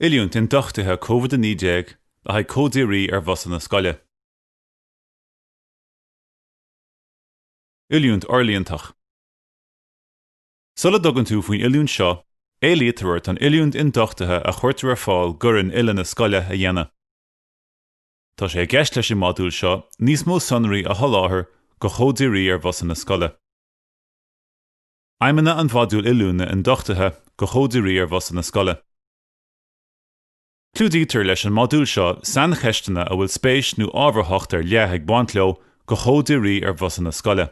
Oiliúint ionduchtaithe Covid-19 le haghaidh cóideoirí ar bhusanna scoile. Oiliúint fhorlíontach. Sula dtugann tú faoin oiliúint seo, éilítear ort an oiliúint ionduchtaithe a chuirtear ar fáil d'fhoireann uile na scoile a dhéanamh. Tá sé i gceist leis an modúl seo níos mó sonraí a sholáthar do choimhdirí ar bhusanna scoile. Aidhmeanna an Mhodúil Oiliúna Ionduchtaithe do Choimhdirí ar Bhusanna Scoile. Clúdaítear leis an modúl seo saincheisteanna a bhfuil spéis nó ábharthacht ar leith ag baint leo do choimhdirí ar bhusanna scoile.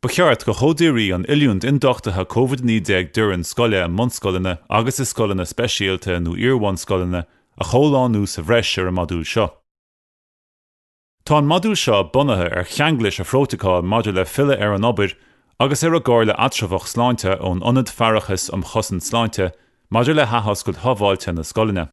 Ba cheart do choimhdirí an oiliúint ionduchtaithe Covid-19 d'fhoireann scoile i mbunscoileanna agus i scoileanna speisialta nó iar-bhunscoileanna a chomhlánú sa bhreis ar an modúl seo. Tá an modúl seo bunaithe ar cheanglais an Phrótacail maidir le Filleadh ar an Obair agus ar an gComhairle Eatramhach Sláinte ón Ionad Faireachais um Chosaint Sláinte maidir le hAthoscailt Shábháilte na Scoileanna.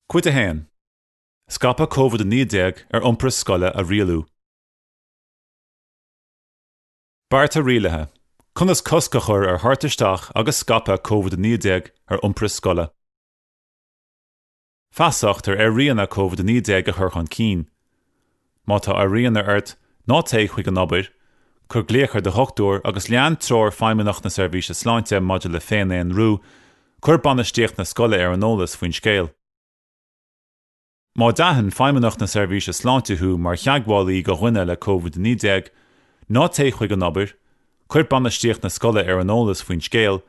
Cuid 1. Scaipeadh COVID-19 ar iompar scoile a rialú. Bearta rialaithe, Conas cosc a chur ar thabhairt isteach agus scaipeadh COVID-19 ar iompar scoile. Feasacht ar airíonna COVID-19 a chur chun cinn. Má tá airíonna ort, ná téigh chuig an obair, cuir glaoch ar do dhochtúir agus lean treoir Feidhmeannacht na Seirbhíse Sláinte maidir le féin-aonrú, cuir bainistíocht na scoile ar an eolas faoin scéal. Má d'aithin Feidhmeannacht na Seirbhíse Sláinte thú mar theagmhálaí de dhuine le COVID-19, ná téigh chuig an obair, Cuir bainistíocht na scoile ar an eolas faoin scéal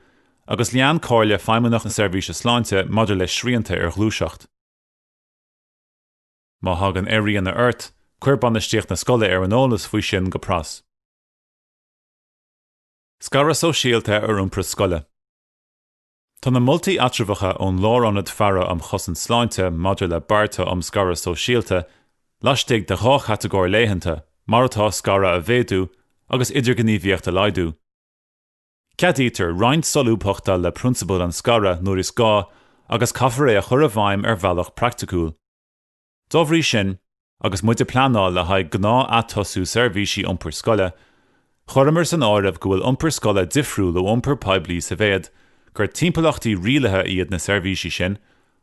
agus lean comhairle Feidhmeannacht na Seirbhíse Sláinte maidir le srianta ar ghluaiseacht. Má thagann airíonna ort, cuir bainistíocht na scoile ar an eolas faoi sin go pras. Scaradh sóisialta ar iompar scoile. Tá na moltaí eatramhacha ón Lárionad Faire um Chosaint Sláinte maidir le bearta um scaradh sóisialta laistigh de dhá chatagóir leathana, mar atá, scaradh a mhéadú agus idirghníomhaíocht a laghdú. Ceadaítear roinnt solúbthachta le prionsabal an scartha nuair is gá agus caithfear é a chur i bhfeidhm ar bhealach praiticiúil. Dá bhrí sin, agus muid ag pleanáil le haghaidh gnáth-atosú seirbhísí iompair scoile, chuireamar san áireamh go bhfuil iompar scoile difriúil ó iompar poiblí sa mhéad gur timpeallachtaí rialaithe iad na seirbhísí sin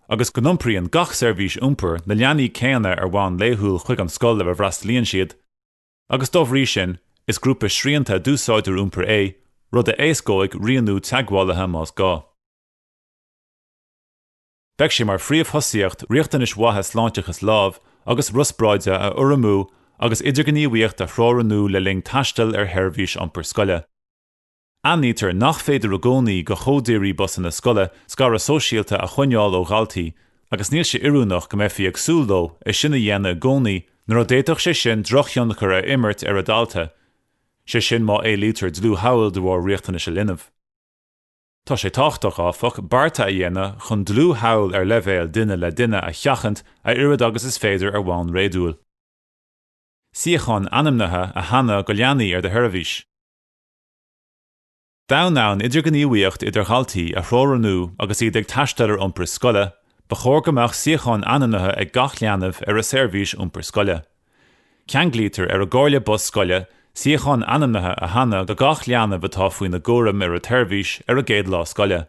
agus go n-iompraíonn gach seirbhís iompair na leanaí céanna ar bhonn laethúil chuig an scoil ar a bhfreastalaíonn siad agus dá bhrí sin is grúpa srianta d'úsáideoirí iompair é, rud a éascóidh rianú teagmhálaithe más gá. Beidh sé mar phríomhthosaíocht riachtanais mhaithe sláinteachais lámh agus riospráide a urramú agus idirghníomhaíocht a theorannú le linn taistil ar sheirbhís iompair scoile. Aithnítear nach féidir i gcónaí do choimhdirí busanna scoile scaradh sóisialta a choinneáil ó dhaltaí agus níl sé oiriúnach go mbeifí ag súil leo é sin a dhéanamh i gcónaí nuair a d'fhéadfadh sé sin drochthionchar a imirt ar an dalta, sé sin má éilítear dlúth-theagmháil de bharr riachtanais an linbh. Tá sé tábhachtach, áfach, bearta a dhéanamh chun dlúth-theagmháil ar leibhéal duine le duine a sheachaint a oiread agus is féidir ar bhonn réadúil. Suíocháin ainmnithe a shannadh do leanaí ar do sheirbhís. D'fhonn an idirghníomhaíocht idir dhaltaí a theorannú agus iad ag taisteal ar iompar scoile, ba chóir go mbeadh suíochán ainmnithe ag gach leanbh ar a seirbhís iompair scoile. Ceanglaítear ar an gcoimhdire bus scoile suíochán ainmnithe a shannadh do gach leanbh atá faoina gcúram ar an tseirbhís ar an gcéad lá scoile.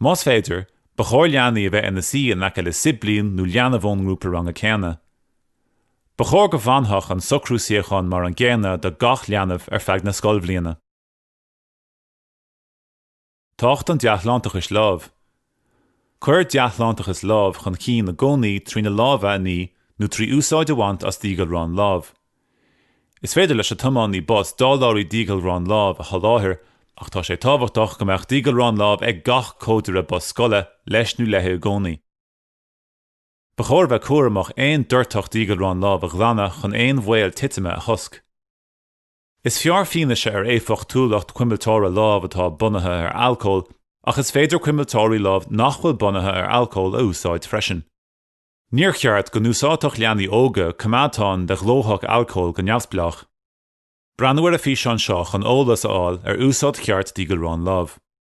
Más féidir, ba chóir leanaí a bheith ina suí in aice le siblín nó leanbh ón ngrúpa ranga céanna. Ba chóir go bhfanfadh an socrú suíochán mar an gcéanna do gach leanbh ar feadh na scoilbhliana. Tábhacht an Dea-Shláinteachais Lámh. Cuir dea-shláinteachas lámh chun cinn i gcónaí trí na lámha a ní nó trí úsáid a bhaint as díghalrán lámh. Is féidir leis an tiománaí bus dáileoirí díghalrán lámh a sholáthair ach tá sé tábhachtach go mbeadh díghalrán lámh ag gach coimhdire bus scoile leis nó léi i gcónaí. Ba chóir bheith cúramach aon doirteadh díghalrán lámh a ghlanadh chun aon bhaol titime a chosc. Is fearr fianaise ar éifeachtúlacht cuimilteora lámh atá bunaithe ar alcól, ach is féidir cuimilteoirí lámh nach bhfuil bunaithe ar alcól a úsáid freisin. Níor cheart go n-úsáidfeadh leanaí óga coimeádáin de ghlóthach alcóil go neamhspleách. Breathnaigh ar an bhfíseán seo chun eolas a fháil ar úsáid cheart díghalrán lámh.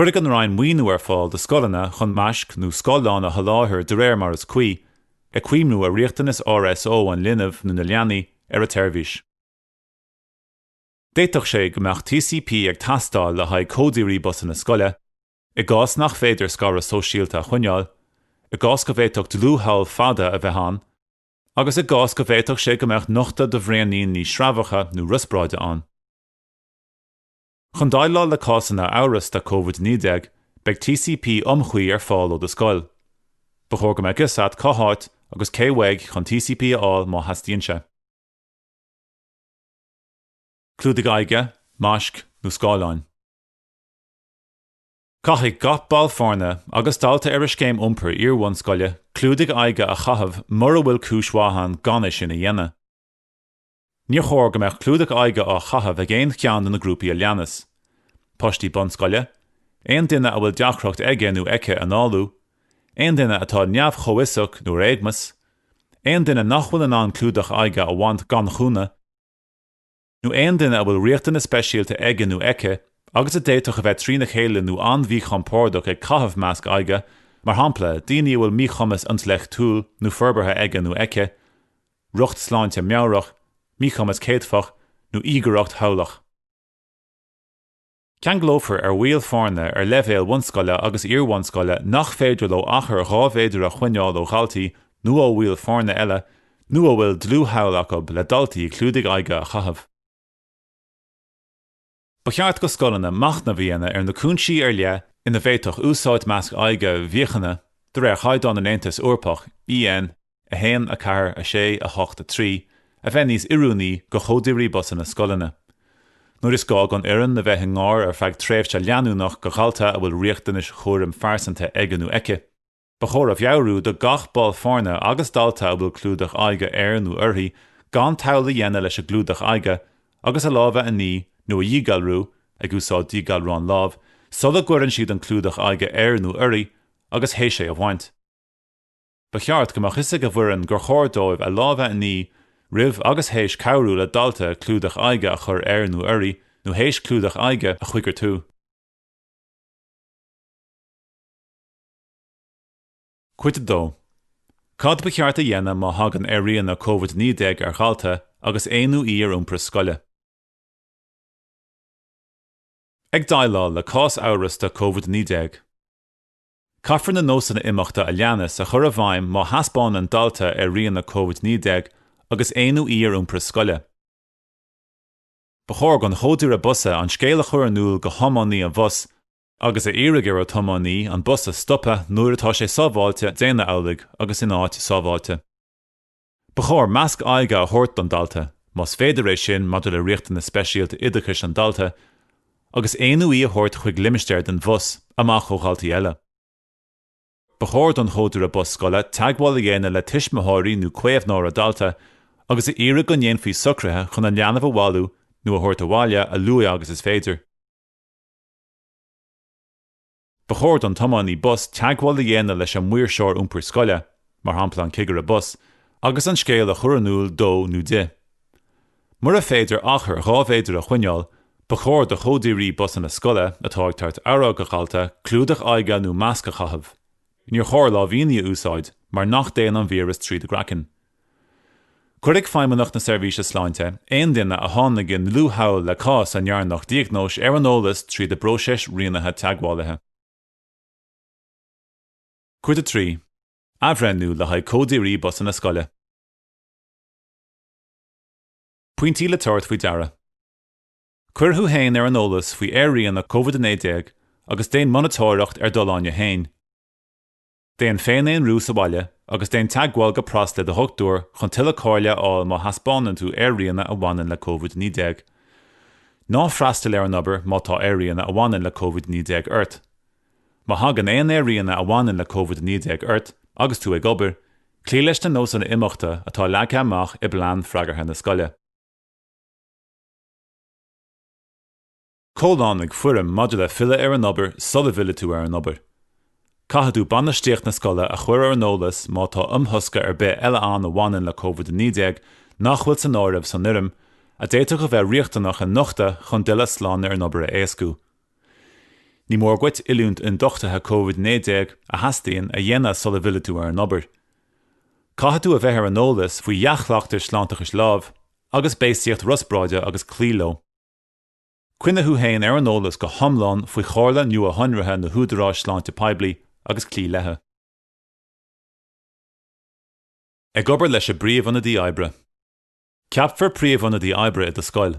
Cuirfidh an Roinn maoiniú ar fáil do scoileanna chun maisc nó scáileáin a sholáthar de réir mar is cuí, ag cuimhniú ar riachtanais RSO an linbh nó na leanaí ar an tseirbhís. D'fhéadfadh sé go mbeadh TCP ag teastáil le haghaidh coimhdirí busanna scoile, i gcás nach féidir scaradh sóisialta a choinneáil, i gcás go bhféadfadh dlúth-thadhall fada a bheith ann, agus i gcás go bhféadfadh sé go mbeadh nochtadh do bhraoiníní sreabhacha nó riospráide ann. Chun déileáil le cásanna amhrasta Covid-19, beidh TCP iomchuí ar fáil ó do scoil. Ba chóir go mbeadh a fhios agat cá háit agus cé uaidh chun TCP a fháil má theastaíonn sé. Clúdaigh aghaidhe, maisc nó scáileáin. Caithfidh gach ball foirne agus dalta ar an scéim iompair iarbhunscoile clúdaigh aghaidhe a chaitheamh mura bhfuil cúis mhaith ann gan é sin a dhéanamh. Níor chóir go mbeadh clúdach aghaidhe á chaitheamh ag aon cheann de na grúpaí a leanas, páistí bunscoile, aon duine a bhfuil deacracht aige nó aici análú, aon duine atá neamh-chomhfhiosach nó ar éagumas, aon duine nach bhfuil in ann clúdach aghaidhe a bhaint gan chúnamh, nó aon duine a bhfuil riachtanais speisialta aige nó aici agus a d'fhéadfadh a bheith trína chéile nó an-mhíchompordach ag caitheamh masc aghaidhe, mar shampla, daoine a bhfuil míchumas intleachtúil nó forbartha aige nó aici, riocht sláinte meabhrach, míchumas céadfach nó íogaireacht thadhlach. Ceanglófar ar bhaill foirne ar leibhéal bhunscoile agus iar-bhunscoile nach féidir leo achar dhá mhéadar a choinneáil ó dhaltaí nó ó bhaill foirne eile nó a bhfuil dlúth-thadhall acu le daltaí clúdaigh aghaidhe a chaitheamh. Ba cheart do scoileanna machnamh a dhéanamh ar na cúinsí ar leith ina bhféadfadh úsáid masc aghaidhe mhíochaine de réir chaighdeáin an Aontais Eorpaigh, EN, 1, 4, 6, 8, 3, a bheith níos oiriúnaí do choimhdirí busanna scoileanna. Nuair is gá don fhoireann a bheith i ngar ar feadh tréimhse leanúnach do dhalta a bhfuil riachtanais chúraim phearsanta aige nó aici, Ba chóir a mheabhrú do gach ball foirne agus dalta a bhfuil clúdach aghaidhe air nó uirthi gan tadhall a dhéanamh leis an gclúdach aghaidhe agus a lámha a ní nó a dhíghalrú ag úsáid díghalrán lámh sula gcuireann siad an clúdach aghaidhe air nó uirthi agus théis é a bhaint. Ba cheart go mbeadh a fhios ag an bhfoireann gur chóir dóibh a lámha a ní roimh agus théis cabhrú le dalta clúdach aghaidhe a chur air nó uirthi nó théis clúdach aghaidhe a choigeartú. Cuid 2, Cad ba cheart a dhéanamh má thagann airíonna Covid-19 ar dhalta agus é nó í ar iompar scoile? Ag déileáil le cás amhrasta Covid-19, caithfear na nósanna imeachta a leanas a chur i bhfeidhm má thaispeánann dalta airíonna Covid-19 agus é nó í ar iompar scoile. Ba chóir don choimhdire bus an scéal a chur in iúl do thiománaí an bhus agus a iarraidh ar an tiománaí an bus a stopadh nuair atá sé sábháilte déanamh amhlaidh agus in áit sábháilte. Ba chóir masc aghaidhe a thabhairt don dalta, más féidir é sin maidir le riachtanas speisialta oideachais an dalta, agus é nó í a thabhairt chuig limistéar den bhus, amach ó dhaltaí eile. Ba chóir don choimhdire bus scoile teagmháil a dhéanamh le tuismitheoirí nó caomhnóir an dalta agus a iarraidh go ndéanfaí socruithe chun an leanbh a bhailiú nó a thabhairt abhaile a luaith agus is féidir. Ba chóir don tiománaí bus teagmháil a dhéanamh leis an maoirseoir iompair scoile, mar shampla an cigire bus, agus an scéal a chur in iúl dó nó di. Mura féidir achar dhá mhéadar a choinneáil, ba chóir do choimhdirí busanna scoile atá ag tabhairt aire do dhalta clúdach aghaidhe nó masc a chaitheamh. Níor chóir lámhainní a úsáid mar nach dtéann an víreas tríd an gcraiceann. Cuirfidh Feidhmeannacht na Seirbhíse Sláinte aon duine a tháinig i ndlúth-theagmháil le cás a ndearnadh diagnóis ar an eolas tríd an bpróiseas rianaithe teagmhálaithe. Cuid 3, Athbhreithniú le haghaidh coimhdirí busanna scoile. Pointí le tabhairt faoi deara. Cuir thú fhéin ar an eolas faoi airíonna Covid-19 agus déan monatóireacht ar d'fholláine fhéin. Déan féin-aonrú sa bhaile agus déan teagmháil go pras le do dhochtúir chun tuilleadh comhairle a fháil má thaispeánann tú airíonna a bhaineann le COVID-19. Ná freastail ar an obair má tá airíonna a bhaineann le COVID-19 ort. Má thagann aon airíonna a bhaineann le COVID-19 ort agus tú ag obair, cloígh leis na nósanna imeachta atá leagtha amach i bPlean Freagartha na Scoile. Comhlánaigh foirm maidir le filleadh ar an obair sula bhfillfidh tú ar an obair. Caithfidh tú bainistíocht na scoile a chur ar an eolas má tá imthosca ar bith eile ann a bhaineann le Covid-19 nach bhfuil san áireamh san fhoirm, a d'fhéadfadh a bheith riachtanach a nochtadh chun d'fhilleadh slán ar an obair a éascú. Ní mór duit oiliúint ionduchtaithe Covid-19 a theastaíonn a dhéanamh sula bhfillfidh tú ar an obair. Caithfidh tú a bheith ar an eolas faoi dhea-chleachtais sláinteachais lámh agus béasaíocht riospráide agus cloí leo. Coinnigh thú féin ar an eolas go hiomlán faoi chomhairle nuashonraithe na húdaráis sláinte poiblí agus cloígh leithe. Ag obair leis an bpríomh-ionadaí oibre. Ceapfar príomh-ionadaí oibre i do scoil.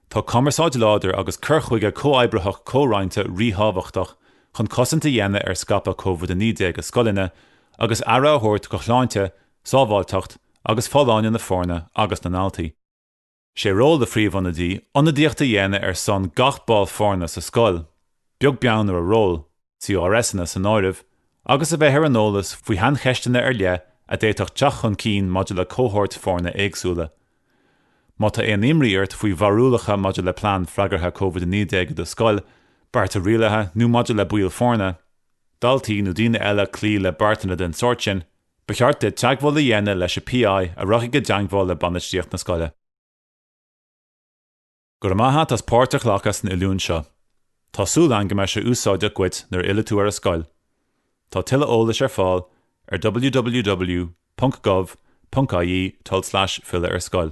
Tá cumarsáid láidir agus cur chuige comhoibritheach comhroinnte ríthábhachtach chun cosaint a dhéanamh ar scaipeadh COVID-19 i scoileanna agus aire a thabhairt do shláinte, sábháilteacht agus folláine na foirne agus na ndaltaí. Sé ról an Phríomh-Ionadaí ionadaíocht a dhéanamh ar son gach ball foirne sa scoil, beag beann ar a ról, CRSanna san áireamh, agus a bheith ar an eolas faoi shaincheisteanna ar leith a d'fhéadfadh teacht chun cinn maidir le cohóirt foirne éagsúla. Má tá aon imní ort faoi bharúlacha maidir le plean freagartha Covid-19 i do scoil, bearta rialaithe nó maidir le baill foirne, daltaí nó daoine eile cloí le bearta den sórt sin, Ba cheart duit teagmháil a dhéanamh leis an PI a rachaidh i dteagmháil le bainistíocht na scoile. Go raibh maith a't as páirt a ghlacadh san oiliúint seo. Tá súil agam go mbeidh sé úsáideach dhuit nuair a fhillfidh tú ar an scoil. Tá tuilleadh eolais ar fáil ar www.gov.ie tulslais filleadh-ar-scoil.